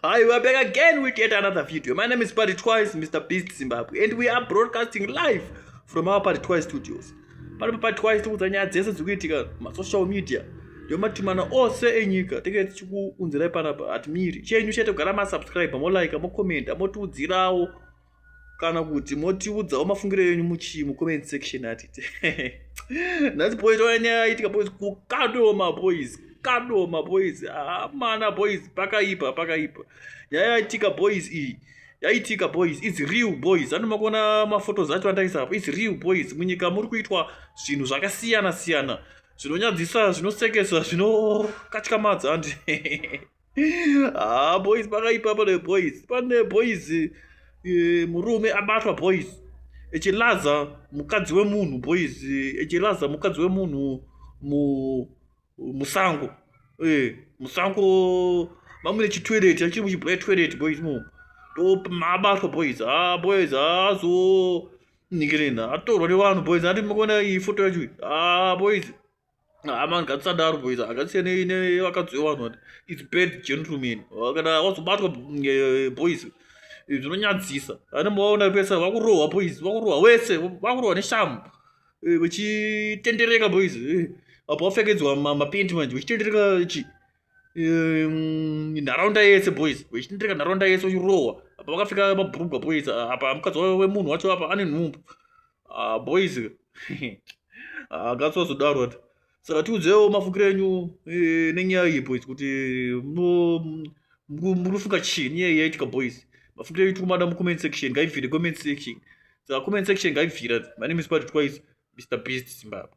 Hi, we are back again with yet another video. My name is Party Twice, Mr. Beast Zimbabwe, and we are broadcasting live from our Party Twice studios. Pano Party Twice tikuudza nyaya dzese dziri kuitika masocial media nematumana ose enyika tinge tichikuunzirai panapa hatimiri chenyu chete kugara masubscribe molike mocommenta motiudzirawo kana kuti motiudzawo mafungiro yenyu muchii mucomment section atite nhasi boys ona nyaya yaitika boys kukadoma boys kadoma boys amana ah, boys pakaipa pakaipa nyaya yaitika boys iyi yaitika boys its real boys andi makona mafotos acho andaisa apo its real boys munyika muri kuitwa zvinhu zvakasiyana siyana zvinonyadzisa zvinosekesa zvinokatyamadza andi ah boys pakaipa pane boys pane boys eh, murume abatwa boys echilaza mukadzi wemunhu boys echilaza mukadzi wemunhu musango eh, musango mamune chitoilet achiri muchibhoya toilet boys mo mabatwa boys a ah, boys azo ah, ningirina atorwa nevanhu boys ati makona ifoto yacho a ah, boys hama ngatisadaro boys akasiya nevakadzi vevanhu vati its bad gentleman kana wazobatwa eh, boys eh, zvinonyadzisa ane maona pesa vakurohwa boys vakurohwa wese vakurohwa neshamu vachitendereka eh, boys apo vapfekedzwa mapendi manje vachitendereka chi Ehm, nharaunda yese boys vechitendereka nharaunda yese uchirohwa apa vakapfeka mabhurugwa boys ah, apa mukadzi wemunhu wacho apa ane nhumbu ah, boys akatswazodaro ah, ati saka tiudzewo mafungiro enyu eh, nenyaya iyi boys kuti munofunga chii nyaya iyi yaitika boys mafungiro enyu tikumada mucomment section ngaibvire comment section saka comment section ngaibvira my name is patrick twice mr beast zimbabwe